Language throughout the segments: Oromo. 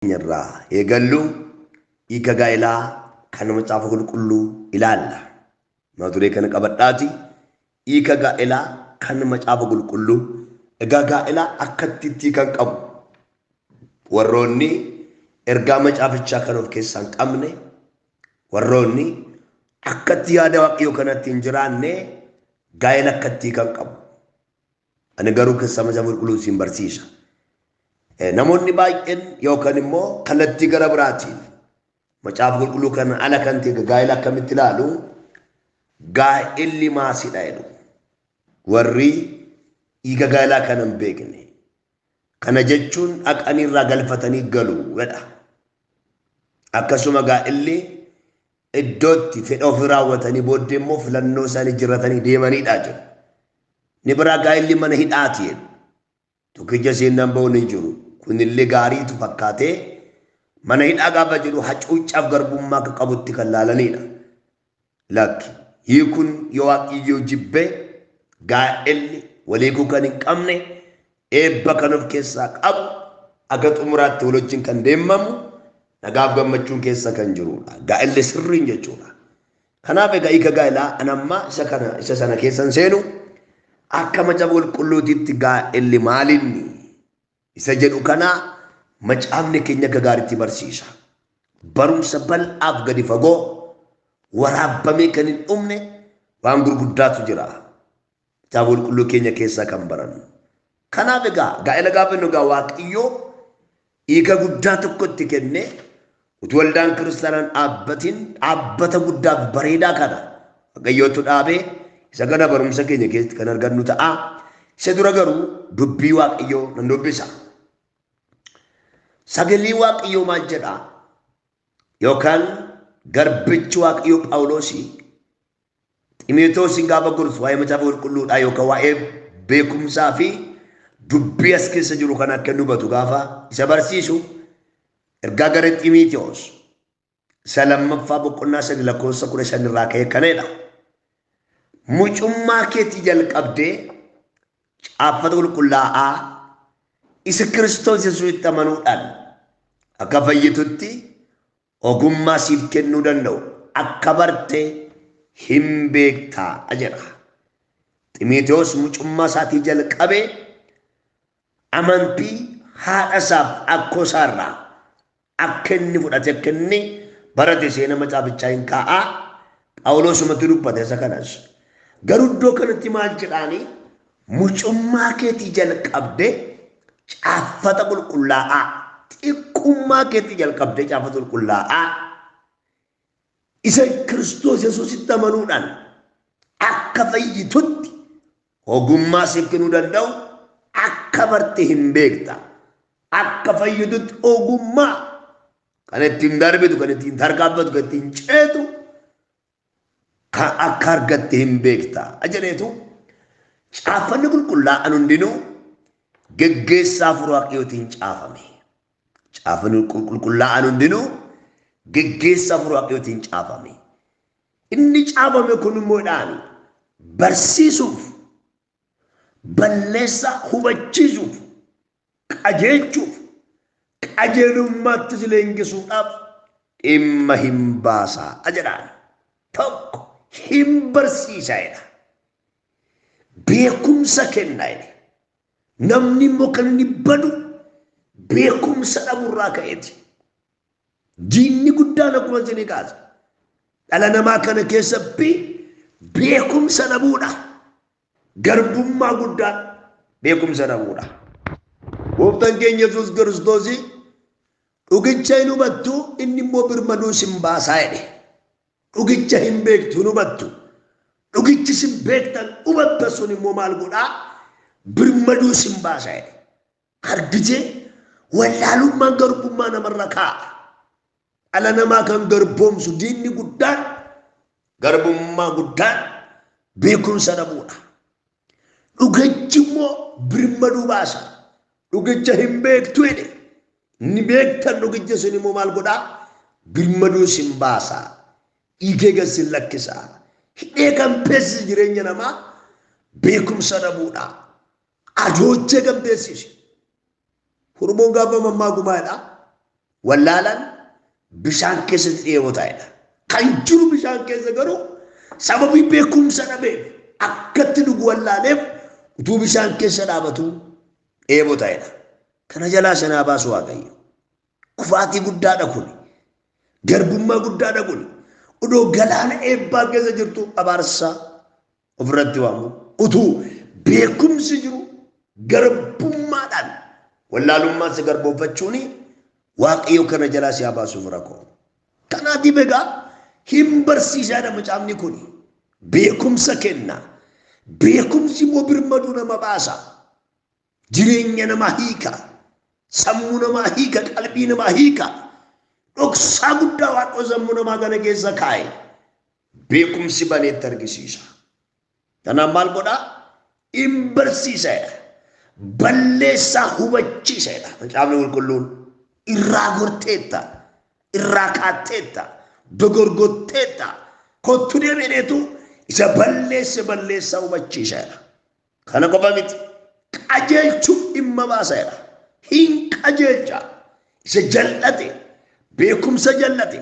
irraa eegallu hiika gaa'elaa kan macaafa qulqulluu ilaalla. Mata duree kana qabadhaati hiika gaa'elaa kan macaafa qulqulluu egaa gaa'elaa akkatti itti kan qabu warroonni ergaa macaafichaa kan of keessaa hin qabne warroonni akkatti yaada waaqayyoo kanatti hin jiraanne gaa'ela akkatti kan qabu Ani garuu kessama isa qulqulluun siin barsiisa. Namoonni baay'een yookaan immoo kallattii gara biraatiin macaafa qulqulluu kan ala kan ta'e gaa'ela akkamitti ilaalu gaa'elli maasidha jedhu. Warri dhiiga gaa'elaa kana hin beekne Kana jechuun dhaqanii irraa galfatanii galu jedha. Akkasuma gaa'illi iddootti fedha ofii raawwatanii booddee immoo filannoo isaanii jiratanii deemanidha jedhu. Ni biraa gaa'illi mana hidhaati jedhu. Tokkicha seennaan ba'uun hin jiru. Kunillee gaariitu fakkaatee mana hidhaa gaafa jedhu hacuuccaaf garbummaa akka qabutti kan laalanidha. Lakki. Hiikuun yoo Waaqayyoo jibbe gaa'elli waliiguu kan hin qabne eebba kan of keessaa qabu aga xumuraatti wal wajjin kan deemamu nagaaf gammachuun keessa kan jirudha. Gaa'elli sirriin jechuudha. Kanaaf egaa hiika gaa'elaa an ammaa isa kana isa sana keessan seenu akka macaafa qulqulluutitti gaa'elli maalinni isa jedhu kana macaafni keenya akka gaariitti barsiisa. Barumsa bal'aaf gadi fagoo waraabbamee kan hin dhumne waan gurguddaatu jira. Kitaaba qulqulluu keenya keessaa kan barannu. Kanaaf egaa gaa'ela gaafa nu egaa waaqayyoo hiika guddaa tokko itti kennee Utuu waldaan kiristaanaa hin dhaabbatiin dhaabbata guddaa fi bareedaa kana Waaqayyootu dhaabe. Isa kana barumsa keenya keessatti kan argannu ta'a. Isa dura garuu dubbii Waaqayyoo nan dubbisa. Sagalee Waaqayyoo maal jedhaa? Yookaan garbichi Waaqayyoo Phaawuloosii Ximotewosiin gaafa gorsu waa'ee Macaafa Qulqulluudhaa yookaan waa'ee beekumsaa fi dubbii as keessa jiru kana akka inni hubatu gaafa isa barsiisu ergaa gara Ximotewos isa lammaffaa boqonnaa sadi lakkoofsa kudha shan irraa ka'e kanadha. Mucummaa keetii jalqabdee caaffata qulqullaa'aa isa Kiristoos Yesuusitti amanuudhaan akka fayyitutti Ogummaa siif kennuu danda'u akka barte hin beektaa jedha. Ximotewos mucummaa isaatii jalqabee amantii haadha isaaf akkoo isaa irraa akka inni fudhate akka inni barate seena macaafachaa hin kaa'aa Phaawuloosumatti dubbate isa kanas. Garuu iddoo kanatti maal jedhaanii Mucummaa keetii jalqabdee caaffata qulqullaa'aa, xiqqummaa keetii jalqabdee caaffata qulqullaa'aa isa Kiristoos Yesuusitti amanuudhaan akka fayyitutti ogummaa siif kennuu danda'u akka barte hin beekta. Akka fayyitutti ogummaa kan ittiin darbitu, kan ittiin tarkaanfatu, kan ittiin ceetu kaa akka argatte hin beekta jedheetu caaffanni qulqullaa'an hundinuu geggeessaa hafuura waaqayyootiin caafame. Caaffanni qulqullaa'an hundinuu geggeessaa hafuura waaqayyootiin caafame. Inni caafame kun immoo dhaan barsiisuuf balleessaa hubachiisuuf qajeelchuuf, qajeelummaattis leengisuudhaaf dhimma hin baasaa jedhaan. Tokko hin barsiisaa jedha. Beekumsa kennaa jedhe. Namni immoo kan inni badu beekumsa dhaburraa ka'eeti. Diinni guddaan akkuma isinii kaase. Dhala namaa kana keessatti beekumsa dhabuudha. Garbummaa guddaan beekumsa dhabuudha. Gooftaan keenya Yesuus Kiristoos dhugicha hin hubattu inni immoo birmaduu sin baasaa jedhe. Dhugicha hin beektu hin hubattu. Dhugichi sin beektan hubatta sun immoo maal godhaa birmaduu sin baasaa jedhe. Argitee wallaalummaan garbummaa namarra kaa'a. Dhala namaa kan garboomsu diinni guddaan garbummaa guddaan beekumsa dhabuudha. Dhugichi immoo birmaduu baasa. Dhugicha hin beektu jedhe. Inni beektan dhugicha sun immoo maal godhaa? Birmaduu sin baasa. Dhiigee gad sin lakkisa. Hidhee kan beeksise jireenya namaa beekumsa dhabuudha. Ajoojjee gambeessi ishee. Hurmoon gaafa mammaaku maalidha? Wallaalaan bishaan keessatti dheebotaa jedha. Kan jiru bishaan keessa garuu sababii beekumsa dhabeef akkatti dhugu wallaaleef utuu bishaan keessa dhaabatu dheebotaa jedha. Kana jalaa sanaa baasu waaqayyo. Kufaatii guddaadha kun. Garbummaa guddaadha kun. Odoo galaana eebbaa keessa jirtu abaarsaa ofirratti waamu utuu beekumsi jiru garbummaadhaan wallaalummaan si garbooffachuun waaqayyo kana jalaa si haa baasuuf rakoo. Kanaatiif egaa hin barsiisaadha macaafni kun beekumsa kenna. Beekumsi immoo birmaduu nama baasa. Jireenya namaa hiika. Sammuu namaa hiika. Qalbii namaa hiika. Dhoksaa guddaa waaqoo sammuu namaa kana keessa kaa'e. beekumsi baneetti argisiisa. Kanaaf maal godha? In barsiisa jedha. Balleessaa hubachiisa jedha. Macaafni qulqulluun irraa gorteetta, irraa kaatteetta, dogorgotteetta, kottu deebi'eetu isa balleesse balleessaa hubachiisa jedha. Kana qofa miti. Qajeelchuuf dhimma baasa jedha. Hin qajeelcha. Isa jal'ate, beekumsa jal'ate,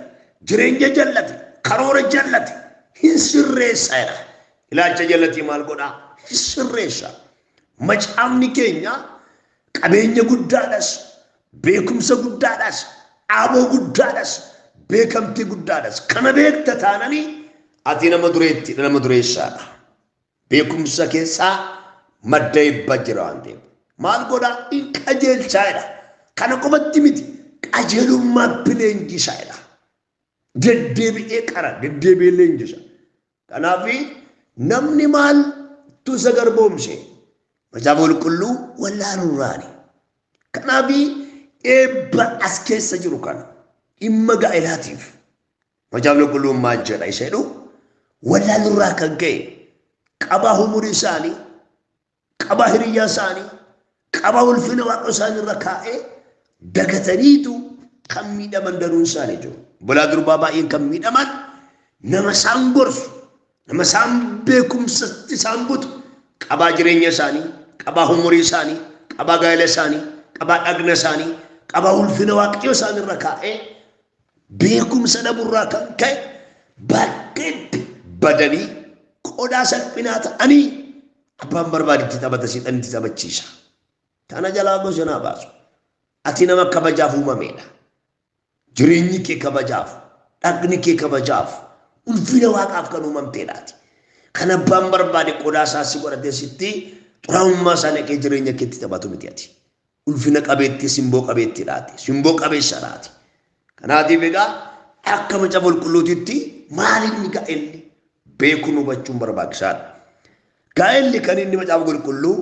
jireenya jal'ate, karoora jal'ate hin sirreessa jedha. Ilaalcha jal'atee maal godha? Hin sirreessa. Macaafni keenya qabeenya guddaadhas, beekumsa guddaadhas, dhaaboo guddaadhas, beekamtii guddaadhas. Kana beekta taananii ati nama dureetti, nama dureessaadha. Beekumsa keessaa madda eebba jira waan ta'eef. Maal godhaa? In qajeelchaa jedha. Kana qofatti miti qajeelummaatti leenjisa jedha. Deddeebi'ee qara, deddeebi'ee leenjisa. Kanaaf namni maaltu isa garboomse? Macaafa qulqulluu wallaaluurraani. Kanaaf eebba as keessa jiru kana dhimma gaa'elaatiif Macaafni Qulqulluun maal jedha isa jedhu wallaalurraa kan ka'e qabaa humurii isaanii, qabaa hiriyyaa isaanii, qabaa ulfina waaqa isaanii irra kaa'ee dagataniitu kan miidhaman danuun isaanii jiru. Bulaa durbaa baay'een kan miidhaman nama isaan gorsu, Nama isaan beekumsa isaan butu qabaa jireenya isaanii, qabaa humurii isaanii, qabaa gaa'ela isaanii, qabaa dhagna isaanii, qabaa ulfina waaqayyo isaan irra kaa'ee beekumsa dhaburraa kan ka'e bakkeetti badanii qodaa salphinaa ta'anii abbaan barbaadetti taphata siidhan itti taphachiisa. Tana jalaa gosa naa baasu. Ati nama kabajaaf uumameedha. Jireenyi kee kabajaaf, dhaqni kee kabajaaf, ulfina waaqaaf kan uumamteedhaati. Kan abbaan barbaade qodaa isaa si godhatee sitti xuraa'ummaa isaa naqee jireenya keetti taphatu miti ati. Ulfina qabeettii simboo qabeettiidhaati. Simboo qabeessadhaati. Kanaatiif egaa akka macaafa qulqulluutitti maal inni ga'elli beekuun hubachuun barbaachisaadha. Gaa'elli kan inni macaafa qulqulluu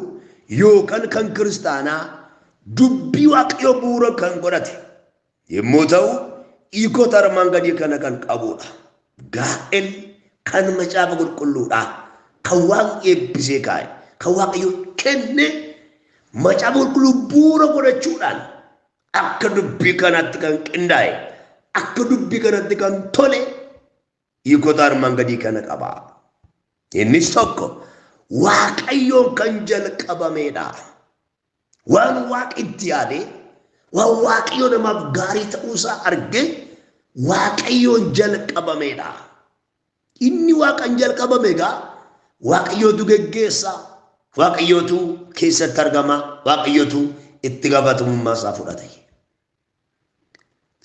yookaan kan kiristaanaa dubbii waaqayyoo bu'uura kan godhate yommuu ta'u hiikota armaan gadii kana kan qabudha. Gaa'elli kan macaafa qulqulluudha. Kan waaqni eebbisee kaa'e, kan waaqayyo kenne macaafa qulqulluu bu'uura godhachuudhaan akka dubbii kanaatti kan qindaa'e, akka dubbii kanatti kan tole Hiikota armaan gadii kana qaba. Innis tokko waaqayyoon kan jalqabameedha. Waan waaqi itti yaade, waan waaqayyo namaaf gaarii ta'uusaa arge waaqayyoon jalqabameedha. Inni waaqan jalqabame egaa waaqayyootu geggeessa, waaqayyootu keessatti argama, waaqayyootu itti gaafatamummaa isaa fudhata.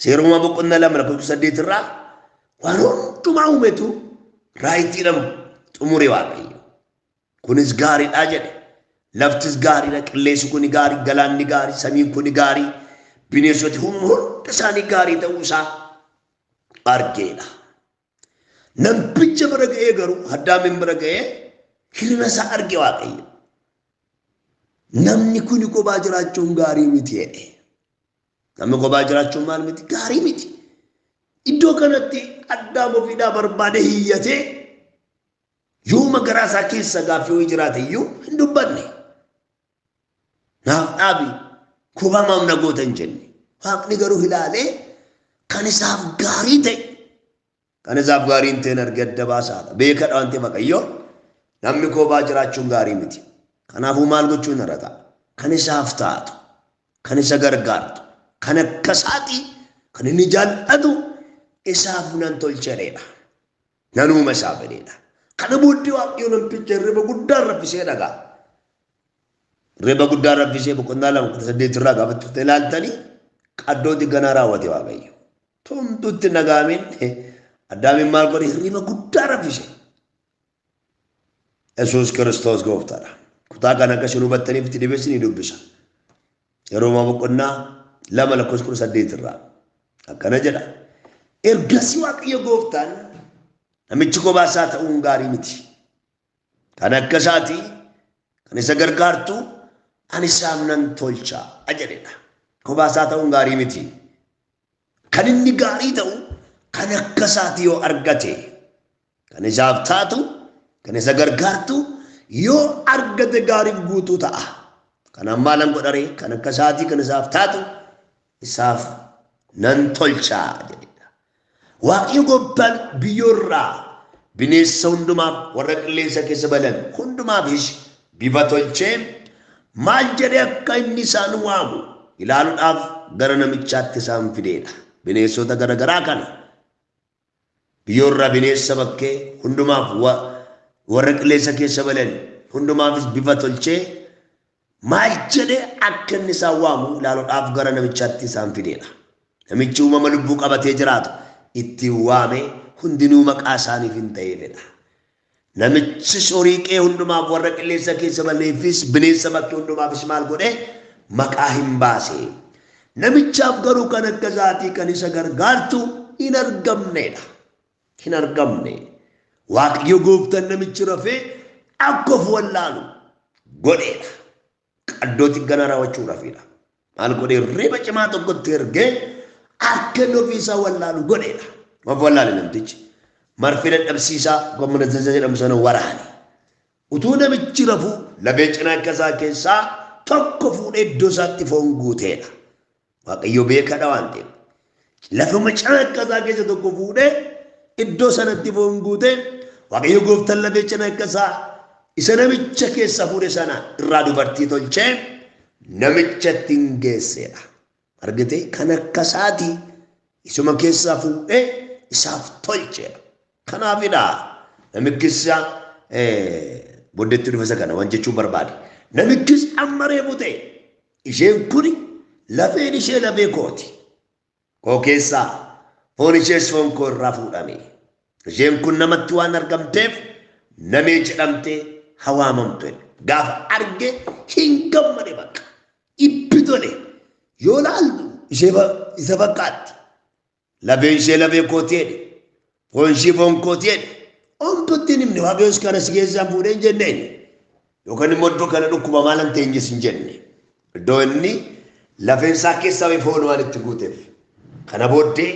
Seeruma boqonnaa lama lakkoofsa saddeet irraa waan hundumaa uumetu raayitiidhaan xumure waaqayyo. Kunis gaariidha jedhe. Laftis gaariidha, qilleensi kuni gaarii, galaanni gaarii, samiin kuni gaarii, bineensoti hundi isaanii gaarii ta'uu isaa argeedha. Namticha bira ga'ee garuu Addaamiin bira ga'ee hir'ina isaa arge Waaqayyo. Namni kun kophaa jiraachuun gaarii miti jedhe. Namni kophaa jiraachuun maal miti? Gaarii miti. Iddoo kanatti Addaam ofiidhaa barbaade hiyyatee yooma garaa isaa keessa gaaffii ho'i jiraate iyyuu hin dubbanne. Naaf dhaabi kubaamaaf na goota hin jenne. Waaqni garuu ilaalee kan isaaf gaarii ta'e kan isaaf gaarii hin ta'in argee adda baasaadha. Beekadha waan ta'eef Waaqayyo namni koobaa jiraachuun gaarii miti. Kanaafuu maal gochuun irra ta'a? Kan isaaf taatu, kan isa gargaartu, kan akka isaati, kan inni jaallatu isaaf nan tolcheedha. Nanuuma isaa fedheedha. Kana booddee Waaqayyo namticha hirriba guddaan raffisee dhagaa. Hirriba guddaan raffisee boqonnaa lama kudha saddeet irraa gaafa turte ilaaltanii qaddooti ganaa raawwate Waaqayyo. Tumtutti nagaamiin addaamiin maal godhe hirriba guddaa raffise. Yesuus Kiristoos gooftaadha. Kutaa kana akka isin hubattaniif itti deebisni dubbisa. Roomaa boqonnaa 2 lakkoofsa 18 irraa akkana jedha. Ergasii Waaqayyo gooftaan namichi kophaa isaa ta'uun gaarii miti. Kan akka isaatii kan isa gargaartu ani isaaf nan tolcha jedhedha. Kophaa isaa ta'uun gaarii miti. Kan inni gaarii ta'u kan akka isaati yoo argate kan isaaf taatu kan isa gargaartu yoo argate gaariif guutuu ta'a. Kanaan maalan godharee kan akka isaatii kan isaaf taatu isaaf nan tolchaa jedhedha. Waaqayyo gooftaan biyyoorraa bineensa hundumaaf warra qilleensa keessa balan hundumaafis bifa tolchee Maal jedhee akka inni isaan waamu ilaaludhaaf gara namichaatti isaan fideedha. Bineessota gara garaa kana biyyoorraa bineessa bakkee hundumaaf warra qilleessa keessa balan hundumaafis bifa tolchee maal jedhe akka inni isaan waamu ilaaludhaaf gara namichaatti isaan fideedha. Namichi uumama lubbuu qabatee jiraatu ittiin waamee hundinuu maqaa isaaniif hin ta'eefidha. Namichis horii kee hundumaaf, warra qilleensa keessa ba'aniifis, bineensa bakkee hundumaafis maal godhe? Maqaa hin baase. Namichaaf garuu kan akka isaatii kan isa gargaartu hin argamneedha. Hin argamne. Waaqayyo gooftaan namichi rafee akka of wallaalu godheedha. Qaddoo xigganaa raawwachuudhaafidha. Maal godhee reeba cimaa tokkotti ergee akka inni ofiisaa wallaalu godheedha. Of wallaale namtichi. Marfee dadhabsiisaa gommana zaza jedhamu sana waraane. Utuu namichi rafuu lafee cinaa akka isaa keessaa tokko fuudhee iddoo isaatti foon guuteedha. Waaqayyo beekaadha waan ta'eef. Lafa macaakkaa isaa keessa tokko fuudhee iddoo sanatti foon guutee Waaqayyo gooftaan lafeecha akka isaa isa namicha keessa fuudhe sana irraa dubartii tolchee namicha ittiin geesseedha. Argitee kan akka isaati isuma keessaa fuudhee isaaf tolcheedha. Kanaafidha namichis booddeetti dhufesa kana waan jechuun barbaade. Namichis amma reefu ta'e isheen kuni lafeen ishee lafee kooti. Koo keessaa foon ishees foon koo irraa fuudhame. Isheen kun namatti waan argamteef namee jedhamtee hawaamamtu gaafa arge hin gammade bakka itti tole yoo laaltu isa fakkaatti. Lafeen ishee lafee kooti jedhe. Foon ishii foon kooti jedhe. Omtu ittiin himne waaqayyoos kana si keessaan fuudhee hin jenne inni. Yookaan immoo iddoo kana dhukkuba maalan teenyes hin jenne. Iddoo inni lafeen isaa keessaa ba'e foon waan itti guuteef. Kana booddee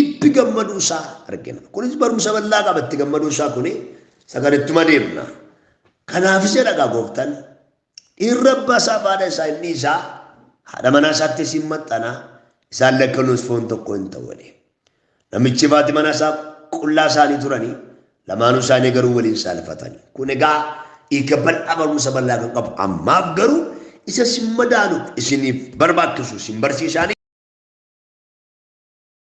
itti gammaduu isaa argina. Kunis barumsa bal'aa qaba itti gammaduu isaa kuni isa kan ittuma deemna. Kanaafis jedha egaa gooftaan Dhiirri abbaa isaaf haadha isaa hin dhiisa, haadha manaa isaattis hin maxxana, isaan lakkanuus foon tokko hin ta'u jedhe. Namichi fi manaa isaa qullaa isaanii turanii, lamaanuu isaanii garuu waliin saalfatani. Kun egaa hiika bal'aa barumsa bal'aa kan qabu ammaaf garuu isa isin madaaluuf isiniif barbaachisu isin barsiisaanii.